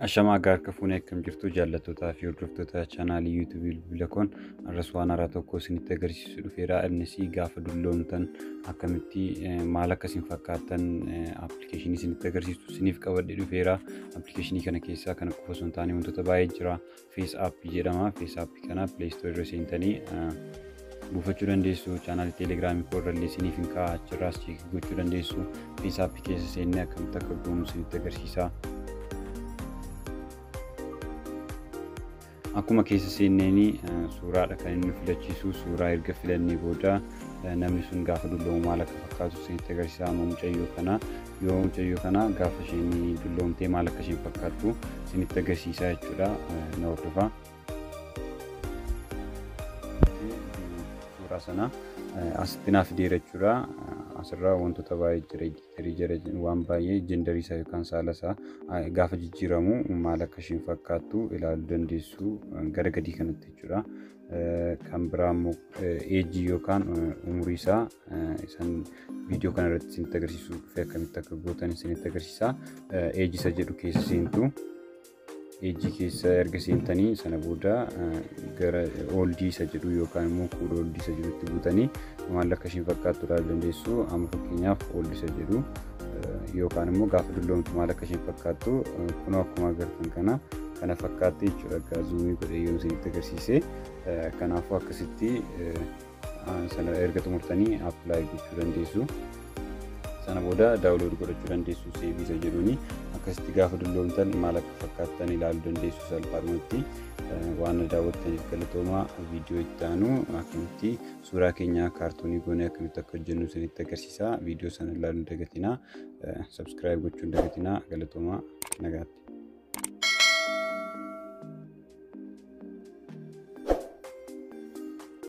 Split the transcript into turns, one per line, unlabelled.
Ashamaa akka harka fuunee akkam jirtu jaallattoota fi hordoftoota chaanaalii yuutuubii bilbila koon arras waan haaraa tokko isinitti agarsiisu dhufeera. Innis gaafa dulloomtan akkamitti eh, maal akka isin fakkaatan appilikeeshinii isinitti agarsiisu isiniif qabadhee dhufeera. Appilikeeshinii kana keessaa kana qofa osoo hin taane wantoota baay'ee jira. fees app jedhama fees app kana play store irra seentanii buufachuu dandeessu chaanaalii teelegiraamii koo irra illee isiniif hin kaa'a achirraas cheek gochuu dandeessu fees app keessa seennee akkamitti akka goonu isinitti agarsiisa. Akkuma keessa seenneen suuraadha kan inni filachiisu suuraa erga filannee booda namni sun gaafa dulloomu maal akka fakkaatu isinitti agarsiisa amma mucayyoo kana Yoo mucayyoo kana gaafa isheen dulloomtee maal akka isheen fakkaattu isinitti agarsiisaa jechuudha na hordofaa. Suuraa sana asitti naaf fideera jechuudha. Asirraa wantoota baay'ee jira editeerii jira waan baay'ee jendarii isaa yookaan saala isaa gaafa jijjiiramu maal akka isheen fakkaattu ilaaluu dandeessu gara gadii kanatti jechuudha. kan biraa immoo eejii yookaan umurii isaa isan viidiyoo kana irratti isinitti agarsiisuu dhufe akkamitti akka gootan isinitti agarsiisa. Eejii isa jedhu keessa seentu. Eejii keessa erga seentanii sana booda gara ooldii isa jedhu yookaan immoo kuula ooldii isa jedhutti buutanii maal akka ishiin fakkaattu ilaaluu dandeessu. Amma fakkeenyaaf ooldii isa jedhu. yookaan immoo gaafa dulloomtu maal akka isheen fakkaattu kunoo akkuma agartan kana kana fakkaatti jechuudha egaa zuumii godhee yoon isinitti agarsiise kanaafuu akkasitti sana erga xumurtanii appilaayi gochuu dandeessu. sana booda daawulood godhachuu dandeessu seeviisa jedhuuni akkasitti gaafa dulloomtan maal akka fakkaattan ilaaluu dandeessu salphaadhumatti waan daawwattaniif galatoomaa viidiyoo itti aanu akkamitti suuraa keenya kaartoonii goonee akkamitti akka hojjennu isinitti agarsiisa. Viidiyoo sana ilaaluu hin dagatinaa. Sabskiraayib gochuu hin dagatinaa. Galatoomaa nagaatti.